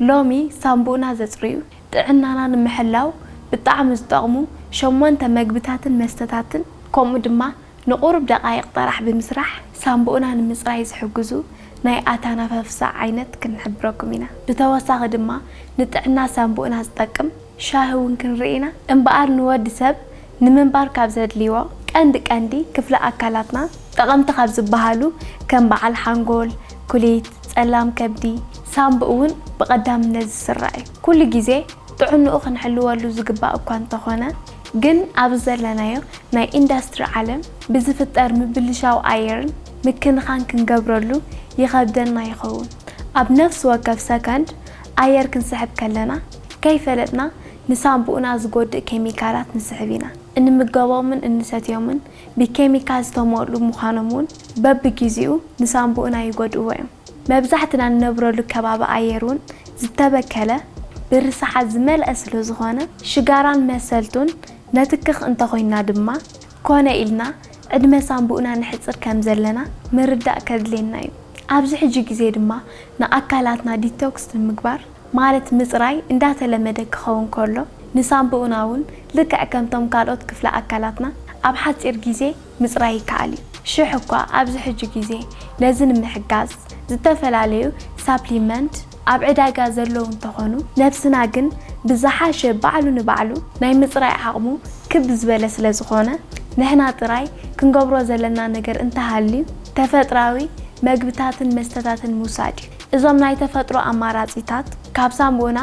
ሎሚ ሳንቡእና ዘጽርዩ፣ ጥዕናና ንምሕላው ብጣዕሚ ዝጠቕሙ ሸሞንተ መግብታትን መስተታትን ከምኡ ድማ ንቑሩብ ደቓይቕ ጥራሕ ብምስራሕ ሳንቡእና ንምጽራይ ዝሕግዙ ናይ ኣታናፋፍሳ ዓይነት ክንሕብረኩም ኢና። ብተወሳኺ ድማ ንጥዕና ሳንቡእና ዝጠቅም ሻሂ ውን ክንርኢ ኢና። እምበኣር ንወዲ ሰብ ንምንባር ካብ ዘድልዩዎ ቀንዲ ቀንዲ ክፍሊ ኣካላትና ጠቐምቲ ካብ ዝበሃሉ ከም በዓል ሓንጎል፣ ኩሊት፣ ፀላም ከብዲ፣ ሳምብ እውን ብቐዳምነት ዝስራዕ እዩ። ኩሉ ግዜ ጥዕንኡ ክንሕልወሉ ዝግባእ እኳ እንተኾነ ግን ኣብዚ ዘለናዮ ናይ ኢንዳስትሪ ዓለም ብዝፍጠር ምብልሻው ኣየርን ምክንኻን ክንገብረሉ ይኸብደና ይኸውን። ኣብ ነፍሲ ወከፍ ሰከንድ ኣየር ክንስሕብ ከለና ከይፈለጥና ንሳንቡእና ዝጎድእ ኬሚካላት ንስሕብ ኢና። እንምገቦምን እንሰትዮምን ብኬሚካል ዝተሞልኡ ምዃኖም እውን በብጊዚኡ ንሳንቡእና ይጎድእዎ እዮም። መብዛሕትና ንነብረሉ ከባቢ ኣየር እውን ዝተበከለ ብርሰሓት ዝመልኣ ስለዝኾነ ሽጋራን መሰልቱን ነትክኽ እንተኾይንና ድማ ኮነ ኢልና ዕድመ ሳንቡእና ነሕጽር ከምዘለና ምርዳእ ከድልየና እዩ። ኣብዚ ሕጂ ግዜ ድማ ንኣካላትና ዲቶክስ ንምግባር፣ ማለት ምጽራይ እንዳተለመደ ክኸውን ከሎ፣ ንሳንቡእና እውን ልክዕ ከምቶም ካልኦት ክፍለ ኣካላትና ኣብ ሓጺር ግዜ ምጽራይ ይከኣል እዩ። ሽሕ እኳ ኣብዚ ሕጂ ግዜ ነዚ ንምሕጋዝ ዝተፈላለዩ ሳፕሊመንት ኣብ ዕዳጋ ዘለዉ እንተኾኑ፣ ነብስና ግን ብዝሓሸ ባዕሉ ንባዕሉ ናይ ምጽራይ ዓቕሙ ክብ ዝበለ ስለ ዝኾነ፣ ንሕና ጥራይ ክንገብሮ ዘለና ነገር እንተሃልዩ ተፈጥራዊ መግብታትን መስተታትን ምውሳድ እዩ። እዞም ናይ ተፈጥሮ ኣማራጺታት ካብ ሳሙና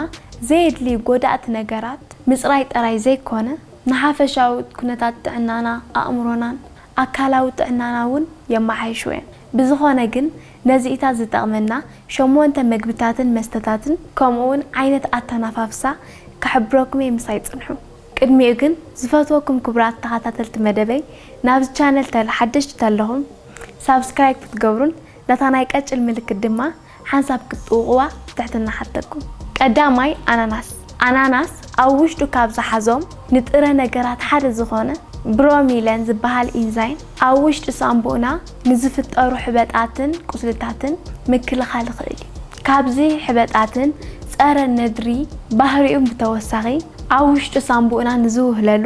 ዘየድልዩ ጎዳእቲ ነገራት ምጽራይ ጥራይ ዘይኮነ፣ ንሓፈሻዊ ኩነታት ጥዕናና፣ ኣእምሮናን ኣካላዊ ጥዕናና እውን የመሓይሹ እዮም። ብዝኾነ ግን ነዚኢታት ዝጠቕመና ሸሞንተ መግብታትን መስተታትን ከምኡውን ዓይነት ኣተናፋፍሳ ክሕብረኩም እየ ምሳይ ጽንሑ። ቅድሚኡ ግን ዝፈትወኩም ክቡራት ተኻታተልቲ መደበይ ናብዚ ቻነል ተል ሓደሽቲ ተለኹም ሳብስክራይብ ክትገብሩን ነታ ናይ ቀጭን ምልክት ድማ ሓንሳብ ክትጥውቕዋ ብትሕትና እሓተኩም። ቀዳማይ፣ ኣናናስ። ኣናናስ ኣብ ውሽጡ ካብ ዝሓዞም ንጥረ ነገራት ሓደ ዝኾነ ብሮሚለን ዝበሃል ኢንዛይም ኣብ ውሽጢ ሳንቡእና ንዝፍጠሩ ሕበጣትን ቁስልታትን ምክልኻል ይኽእል እዩ። ካብዚ ሕበጣትን ፀረ ነድሪ ባህሪኡን ብተወሳኺ ኣብ ውሽጢ ሳንቡእና ንዝውህለሉ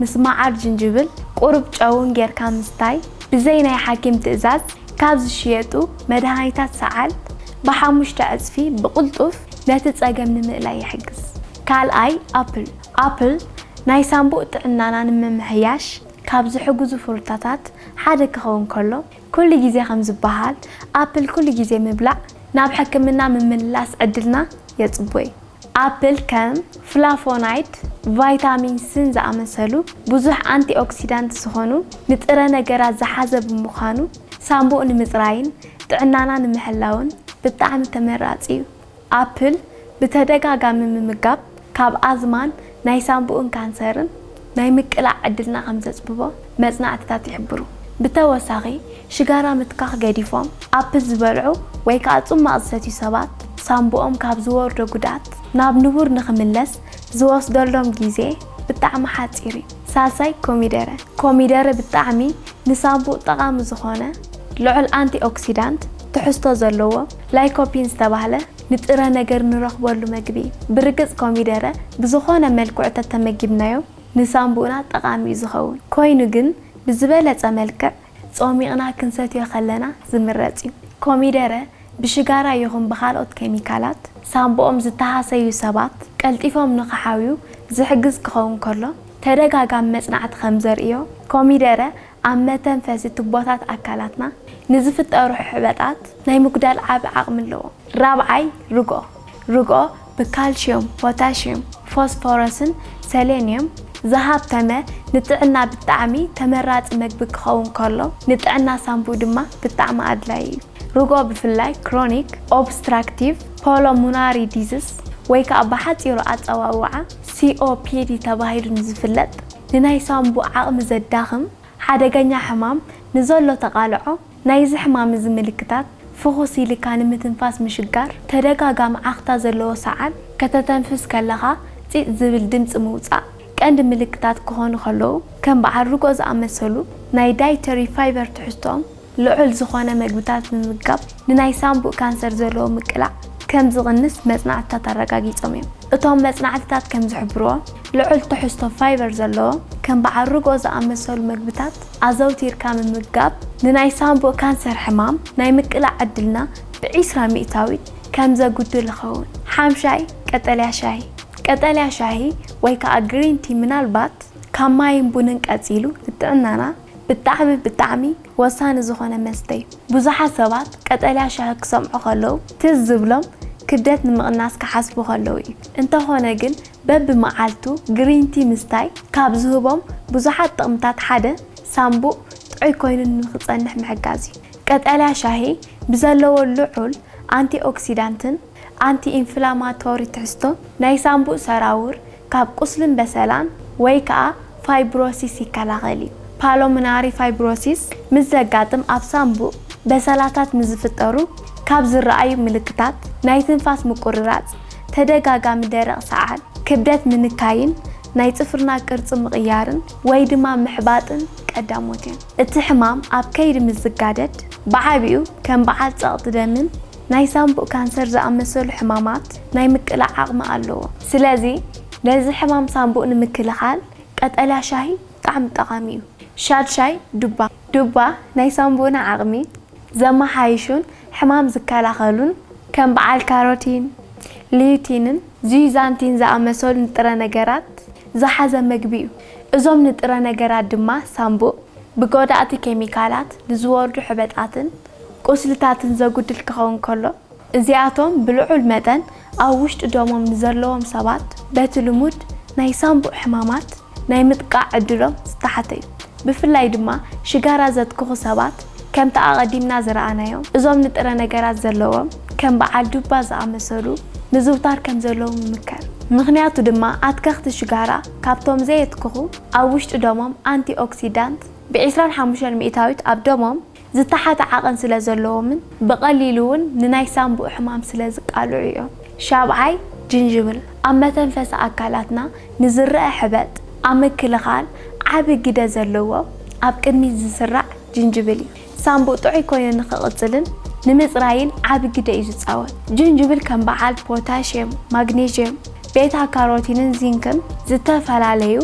ምስ መዓር ጅንጅብል ቁሩብ ጨውን ጌርካ ምስታይ ብዘይ ናይ ሓኪም ትእዛዝ ካብ ዝሽየጡ መድሃኒታት ሰዓል ብሓሙሽተ ዕጽፊ ብቕልጡፍ ነቲ ጸገም ንምእላይ ይሕግዝ። ካልኣይ ኣፕል ኣፕል ናይ ሳንቡእ ጥዕናና ንምምሕያሽ ካብ ዝሕግዙ ፍሩታታት ሓደ ክኸውን ከሎ ኩሉ ግዜ ከም ዝበሃል ኣፕል ኩሉ ግዜ ምብላዕ ናብ ሕክምና ምምልላስ ዕድልና የጽቡይ። ኣፕል ከም ፍላቮናይድ፣ ቫይታሚን ስን ዝኣመሰሉ ብዙሕ ኣንቲኦክሲዳንት ዝዀኑ ንጥረ ነገራት ዝሓዘ ብምዃኑ፣ ሳንቡእ ንምጽራይን ጥዕናና ንምሕላውን ብጣዕሚ ተመራጺ እዩ። ኣፕል ብተደጋጋሚ ምምጋብ ካብ ኣዝማን ናይ ሳንቡእን ካንሰርን ናይ ምቅላዕ ዕድልና ከም ዘጽብቦ መጽናዕትታት ይሕብሩ። ብተወሳኺ፣ ሽጋራ ምትካኽ ገዲፎም ኣፕል ዝበልዑ ወይ ከኣ ጽሟቕ ዝሰትዩ ሰባት፣ ሳንቡኦም ካብ ዝወርዶ ጉድኣት ናብ ንቡር ንኽምለስ ዝወስደሎም ግዜ ብጣዕሚ ሓጺር እዩ። ሳልሳይ፣ ኮሚደረ። ኮሚደረ ብጣዕሚ ንሳንቡእ ጠቓሚ ዝኾነ ልዑል ኣንቲ-ኦክሲዳንት ትሕዝቶ ዘለዎ ላይኮፒን ዝተባህለ ንጥረ ነገር ንረኽበሉ መግቢ እዩ። ብርግጽ ኮሚደረ ብዝኾነ መልክዑ ተተመጊብናዮ ንሳንቡእና ጠቓሚ እዩ ዝኸውን። ኮይኑ ግን ብዝበለጸ መልክዕ ጾሚቕና ክንሰትዮ ከለና ዝምረጽ እዩ። ኮሚደረ ብሽጋራ ይኹን ብካልኦት ኬሚካላት ሳንቡኦም ዝተሃሰዩ ሰባት ቀልጢፎም ንኽሓውዩ ዝሕግዝ ክኸውን ከሎ፣ ተደጋጋሚ መጽናዕቲ ከምዘርእዮ ኮሚደረ ኣብ መተንፈሲ ቱቦታት ኣካላትና ንዝፍጠሩ ሕበጣት ናይ ምጉዳል ዓቢ ዓቕሚ ኣለዎ። ራብዓይ ርግኦ፣ ርግኦ ብካልሽዩም፣ ፖታሽዩም፣ ፎስፎረስን ሰሌንዩም ዝሃብተመ ንጥዕና ብጣዕሚ ተመራጺ መግቢ ክኸውን ከሎ ንጥዕና ሳንቡእ ድማ ብጣዕሚ ኣድላዪ እዩ። ርግኦ ብፍላይ ክሮኒክ ኦብስትራክቲቭ ፖሎሙናሪ ዲዝስ ወይ ከኣ ብሓጺሩ ኣጸዋውዓ ሲኦፒዲ ተባሂሉ ንዝፍለጥ፣ ንናይ ሳንቡእ ዓቕሚ ዘዳኽም ሓደገኛ ሕማም ንዘሎ ተቓልዖ፣ ናይዚ ሕማም እዚ ምልክታት፣ ፍኹስ ኢልካ ንምትንፋስ ምሽጋር፣ ተደጋጋሚ ዓኽታ ዘለዎ ሰዓል፣ ከተተንፍስ ከለኻ ጺጽ ዝብል ድምጺ ምውጻእ፣ ቀንዲ ምልክታት ክኾኑ ከለዉ፣ ከም በዓል ርጎ ዝኣመሰሉ ናይ ዳይተሪ ፋይበር ትሕዝቶኦም ልዑል ዝኾነ መግብታት ምምጋብ ንናይ ሳንቡእ ካንሰር ዘለዎ ምቅላዕ ከም ዝቕንስ መጽናዕትታት ኣረጋጊጾም እዮም። እቶም መጽናዕትታት ከም ዝሕብርዎ፣ ልዑል ትሕዝቶ ፋይበር ዘለዎም ከም በዓል ርግኦ ዝኣመሰሉ መግብታት ኣዘውቲርካ ምምጋብ ንናይ ሳንቡእ ካንሰር ሕማም ናይ ምቅላዕ ዕድልና ብዒስራ ሚእታዊት ከም ዘጉድል ይኸውን። ሓምሻይ፣ ቀጠልያ ሻሂ። ቀጠልያ ሻሂ ወይ ከኣ ግሪን ቲ ምናልባት ካብ ማይን ቡንን ቀጺሉ ንጥዕናና፣ ብጣዕሚ ብጣዕሚ ወሳኒ ዝኾነ መስተ'ዩ። ብዙሓት ሰባት ቀጠልያ ሻሂ ክሰምዑ ከለዉ ትዝ ዝብሎም ክብደት ንምቕናስ ክሓስቡ ከለዉ'ዩ። እንተኾነ ግን በብመዓልቱ ግሪን ቲ ምስታይ ካብ ዝህቦም ብዙሓት ጥቕምታት ሓደ ሳምቡእ ጥዑይ ኮይኑ ንኽጸንሕ ምሕጋዝ'ዩ። ቀጠልያ ሻሂ ብዘለዎ ልዑል ኣንቲ ኦክሲዳንትን፣ ኣንቲ ኢንፍላማቶሪ ትሕዝቶ ናይ ሳምቡእ ሰራውር ካብ ቁስልን በሰላን ወይ ከኣ ፋይብሮሲስ ይከላኸል እዩ። ፓሎምናሪ ፋይብሮሲስ ምስ ዘጋጥም ኣብ ሳምቡእ በሰላታት ንዝፍጠሩ ካብ ዝረኣዩ ምልክታት ናይ ትንፋስ ምቁርራጽ፣ ተደጋጋሚ ደረቕ ሰዓል፣ ክብደት ምንካይን ናይ ጽፍርና ቅርጺ ምቕያርን ወይ ድማ ምሕባጥን ቀዳሞት እዮም። እቲ ሕማም ኣብ ከይዲ ምስ ዝጋደድ ብዓቢኡ ከም በዓል ጸቕጢ ደምን፣ ናይ ሳንቡእ ካንሰር ዝኣመሰሉ ሕማማት ናይ ምቅላዕ ዓቕሚ ኣለዎ። ስለዚ ነዚ ሕማም ሳንቡእ ንምክልኻል ቀጠልያ ሻሂ ብጣዕሚ ጠቓሚ እዩ። ሻድ ሻይ ዱባ፣ ዱባ ናይ ሳንቡእና ዓቕሚ ዘመሓይሹን ሕማም ዝከላኸሉን ከም በዓል ካሮቲን፣ ሊዩቲንን ዚዩዛንቲን ዝኣመሰሉ ንጥረ ነገራት ዝሓዘ መግቢ እዩ። እዞም ንጥረ ነገራት ድማ ሳንቡእ ብጎዳእቲ ኬሚካላት ንዝወርዱ ሕበጣትን ቁስልታትን ዘጉድል ክኸውን ከሎ፣ እዚኣቶም ብልዑል መጠን ኣብ ውሽጢ ደሞም ንዘለዎም ሰባት በቲ ልሙድ ናይ ሳንቡእ ሕማማት ናይ ምጥቃዕ ዕድሎም ዝተሓተ እዩ። ብፍላይ ድማ ሽጋራ ዘትክኹ ሰባት፣ ከምቲ ኣቐዲምና ዝረኣናዮ፣ እዞም ንጥረ ነገራት ዘለዎም ከም በዓል ዱባ ዝኣመሰሉ ምዝውታር ከም ዘለዎም ይምከር። ምኽንያቱ ድማ ኣትከኽቲ ሽጋራ ካብቶም ዘየትክኹ ኣብ ውሽጢ ደሞም ኣንቲ ኦክሲዳንት ብ ዕስራን ሓሙሽተን ሚእታዊት ኣብ ደሞም ዝተሓተ ዓቐን ስለ ዘለዎምን ብቐሊሉ እውን ንናይ ሳንቡእ ሕማም ስለ ዝቃልዑ እዮም። ሻብዓይ፣ ጅንጅብል ኣብ መተንፈሲ ኣካላትና ንዝረኣ ሕበጥ ኣብ ምክልኻል ዓቢ ግደ ዘለዎ ኣብ ቅድሚት ዝስራዕ ጅንጅብል እዩ። ሳንቡእ ጥዑይ ኮይኑ ንክቕጽልን ንምጽራይን ዓቢ ግደ እዩ ዝጻወት። ጅንጅብል ከም በዓል ፖታሽየም፣ ማግኔዥየም፣ ቤታ ካሮቲንን ዚንክን ዝተፈላለዩ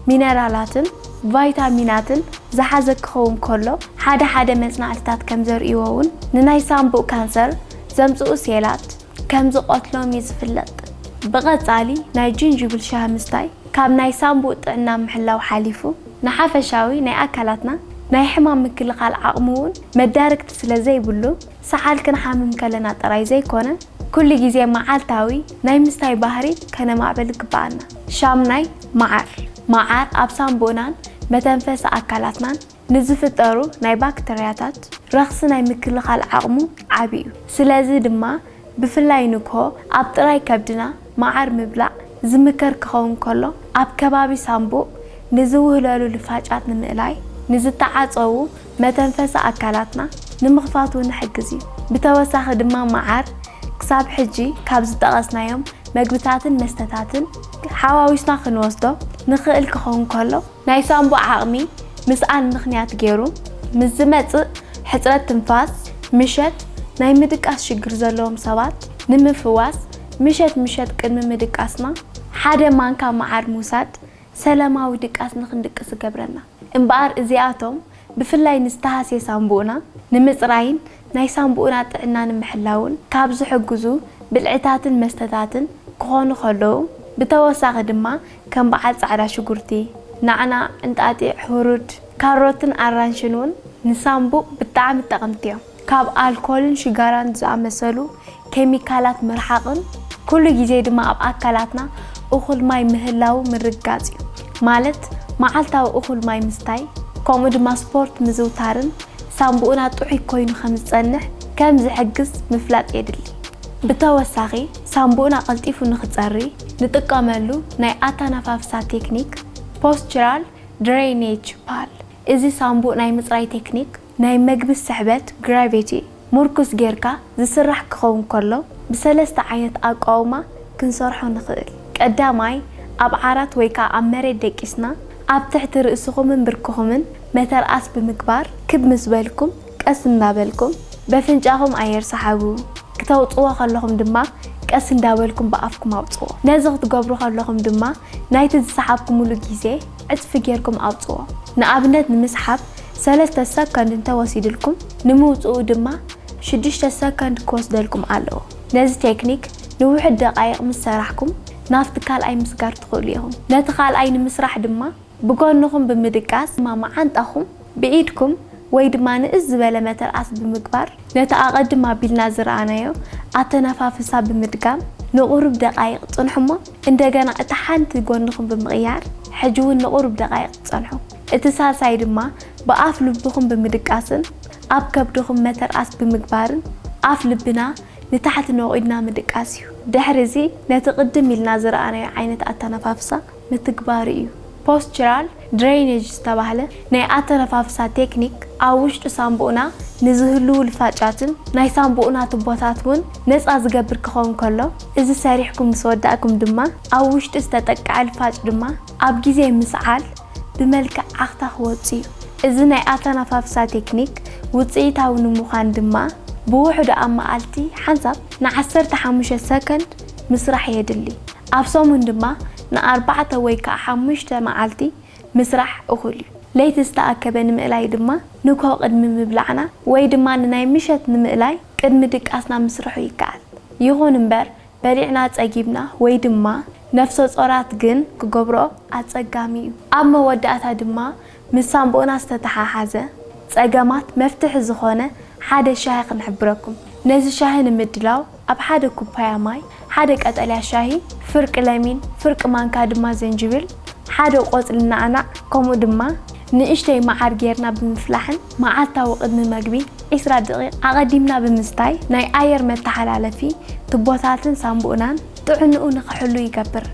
ሚነራላትን፣ ቫይታሚናትን ዝሓዘ ክኸውን ከሎ፣ ሓደ ሓደ መጽናዕትታት ከም ዘርእይዎ'ውን ንናይ ሳንቡእ ካንሰር ዘምጽኡ ሴላት ከም ዝቐትሎም'ዩ ዝፍለጥ። ብቐጻሊ ናይ ጅንጅብል ሻሂ ምስታይ ካብ ናይ ሳንቡእ ጥዕና ምሕላው ሓሊፉ ንሓፈሻዊ ናይ ኣካላትና ናይ ሕማም ምክልኻል ዓቕሚ'ውን መዳርግቲ ስለ ዘይብሉ፣ ሰዓል ክንሓምም ከለና ጥራይ ዘይኮነ፣ ኩሉ ግዜ መዓልታዊ ናይ ምስታይ ባህሪ ከነማዕብል ይግበኣና። ሻምናይ፣ መዓር። መዓር ኣብ ሳንቡእናን መተንፈሲ ኣካላትናን ንዝፍጠሩ ናይ ባክተርያታት ረኽሲ ናይ ምክልኻል ዓቕሙ ዓቢ እዩ። ስለዚ ድማ ብፍላይ ንግሆ ኣብ ጥራይ ከብድና መዓር ምብላዕ ዝምከር ክኸውን ከሎ፣ ኣብ ከባቢ ሳንቡእ ንዝውህለሉ ልፋጫት ንምእላይ፣ ንዝተዓጸዉ መተንፈሲ ኣካላትና ንምኽፋት እውን ይሕግዝ እዩ። ብተወሳኺ ድማ መዓር ክሳብ ሕጂ ካብ ዝጠቐስናዮም መግብታትን መስተታትን ሓዋዊስና ክንወስዶ ንኽእል ክኸውን ከሎ፣ ናይ ሳንቡእ ዓቕሚ ምስኣን ምኽንያት ገይሩ ምስ ዝመጽእ ሕጽረት ትንፋስ፣ ምሸት ናይ ምድቃስ ሽግር ዘለዎም ሰባት ንምፍዋስ ምሸት ምሸት ቅድሚ ምድቃስና ሓደ ማንካ መዓር ምውሳድ ሰላማዊ ድቃስ ንኽንድቅስ ዝገብረና እምበኣር እዚኣቶም ብፍላይ ንዝተሃስየ ሳንቡእና ንምጽራይን ናይ ሳንቡእና ጥዕና ንምሕላውን ካብ ዝሕግዙ ብልዕታትን መስተታትን ክኾኑ ከለዉ ብተወሳኺ ድማ ከም በዓል ጻዕዳ ሽጉርቲ፣ ናዕናዕ፣ እንጣጢዕ፣ ህሩድ፣ ካሮትን ኣራንሽን ውን ንሳንቡእ ብጣዕሚ ጠቐምቲ እዮም። ካብ ኣልኮልን ሽጋራን ዝኣመሰሉ ኬሚካላት ምርሓቕን ኩሉ ግዜ ድማ ኣብ ኣካላትና እኹል ማይ ምህላዉ ምርግጋጽ እዩ። ማለት መዓልታዊ እኹል ማይ ምስታይ ከምኡ ድማ ስፖርት ምዝውታርን ሳንቡእና ጥዑይ ኮይኑ ከም ዝጸንሕ ከም ዝሕግዝ ምፍላጥ የድሊ። ብተወሳኺ ሳንቡእና ቀልጢፉ ንኽጸሪ ንጥቀመሉ ናይ ኣተነፋፍሳ ቴክኒክ፣ Postural Drainage፣ ይበሃል። እዚ ሳንቡእ ናይ ምጽራይ ቴክኒክ፣ ናይ መግቢ ስሕበት፣ Gravity፣ ምርኩስ ጌርካ ዝስራሕ ክኸውን ከሎ ብሰለስተ ዓይነት ኣቋውማ ክንሰርሖ ንኽእል። ቀዳማይ፣ ኣብ ዓራት ወይ ከኣ ኣብ መሬት ደቂስና ኣብ ትሕቲ ርእስኹምን ብርክኹምን መተርኣስ ብምግባር ክብ ምስ በልኩም ቀስ እንዳበልኩም በፍንጫኹም ኣየር ስሓቡ። ክተውጽዎ ከለኹም ድማ ቀስ እንዳበልኩም ብኣፍኩም ኣውጽዎ። ነዚ ክትገብሩ ከለኹም ድማ ናይቲ ዝሰሓብኩምሉ ግዜ፣ ዕጽፊ ጌርኩም ኣውጽዎ። ንኣብነት ንምስሓብ ሰለስተ ሰኮንድ እንተ ወሲድልኩም ንምውጽኡ ድማ ሽዱሽተ ሰኮንድ ክወስደልኩም ኣለዎ። ነዚ ቴክኒክ ንውሑድ ደቓይቕ ምስ ሰራሕኩም ናብቲ ካልኣይ ምስጋር ትኽእሉ ኢኹም። ነቲ ካልኣይ ንምስራሕ ድማ ብጎንኹም ብምድቃስ ድማ መዓንጣኹም ብኢድኩም ወይ ድማ ንእስ ዝበለ መተርኣስ ብምግባር ነቲ ኣቐድም ኣቢልና ዝረኣናዮ ኣተነፋፍሳ ብምድጋም ንቑሩብ ደቓይቕ ጽንሑ እሞ እንደገና እታ ሓንቲ ጎንኹም ብምቕያር ሕጂ ውን ንቑሩብ ደቓይቕ ጸንሑ። እቲ ሳልሳይ ድማ ብኣፍ ልብኹም ብምድቃስን ኣብ ከብድኹም መተርኣስ ብምግባርን ኣፍ ልብና ንታሕቲ ነቑድና ምድቃስ እዩ። ድሕሪ እዚ ነቲ ቅድም ኢልና ዝረኣናዮ ዓይነት ኣተነፋፍሳ ምትግባሩ እዩ። Postural ድረይነጅ ዝተባህለ ናይ ኣተነፋፍሳ ቴክኒክ ኣብ ውሽጢ ሳንቡእና ንዝህልዉ ልፋጫትን ናይ ሳንቡእና ቱቦታት እውን ነፃ ዝገብር ክኸውን ከሎ እዚ ሰሪሕኩም ምስ ወዳእኩም ድማ ኣብ ውሽጢ ዝተጠቀዐ ልፋጭ ድማ ኣብ ግዜ ምስዓል ብመልክዕ ዓኽታ ክወፁ እዩ። እዚ ናይ ኣተነፋፍሳ ቴክኒክ ውፅኢታዊ ንምዃን ድማ ብውሕዱ ኣብ መዓልቲ ሓንሳብ ንዓሰርተ ሓሙሽተ ሰከንድ ምስራሕ የድሊ። ኣብ ሰሙን ድማ ንኣርባዕተ ወይ ከኣ ሓሙሽተ መዓልቲ ምስራሕ እኹል እዩ። ለይቲ ዝተኣከበ ንምእላይ ድማ ንግሆ ቅድሚ ምብላዕና ወይ ድማ ንናይ ምሸት ንምእላይ ቅድሚ ድቃስና ምስርሑ ይከኣል። ይኹን እምበር በሊዕና ጸጊብና ወይ ድማ ነፍሰጾራት ግን ክገብርኦ ኣጸጋሚ እዩ። ኣብ መወዳእታ ድማ ምስ ሳንቡእና ዝተተሓሓዘ ጸገማት መፍትሒ ዝኾነ ሓደ ሻሂ ክንሕብረኩም። ነዚ ሻሂ ንምድላው ኣብ ሓደ ኩፓያ ማይ፣ ሓደ ቀጠልያ ሻሂ፣ ፍርቂ ለሚን፣ ፍርቂ ማንካ ድማ ዝንጅብል፣ ሓደ ቆጽሊ ናዕናዕ ከምኡ ድማ ንእሽተይ መዓር ጌርና ብምፍላሕን መዓልታዊ ቅድሚ መግቢ ዕስራ ደቒቕ ኣቐዲምና ብምስታይ ናይ ኣየር መተሓላለፊ ቱቦታትን ሳንቡእናን ጥዕንኡ ንክሕሉ ይገብር።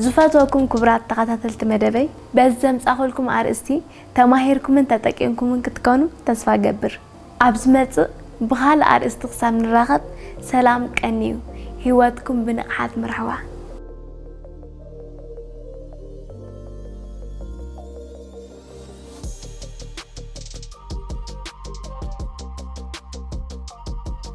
ዝፈትወኩም ክቡራት ተኸታተልቲ መደበይ በዚ ዘምጻኹልኩም ኣርእስቲ ተማሂርኩምን ተጠቂምኩምን ክትከኑ ተስፋ እገብር። ኣብ ዝመጽእ ብኻልእ ኣርእስቲ ክሳብ ንራኸብ ሰላም ቀንዩ። ህይወትኩም ብንቕሓት ምርሕዋ።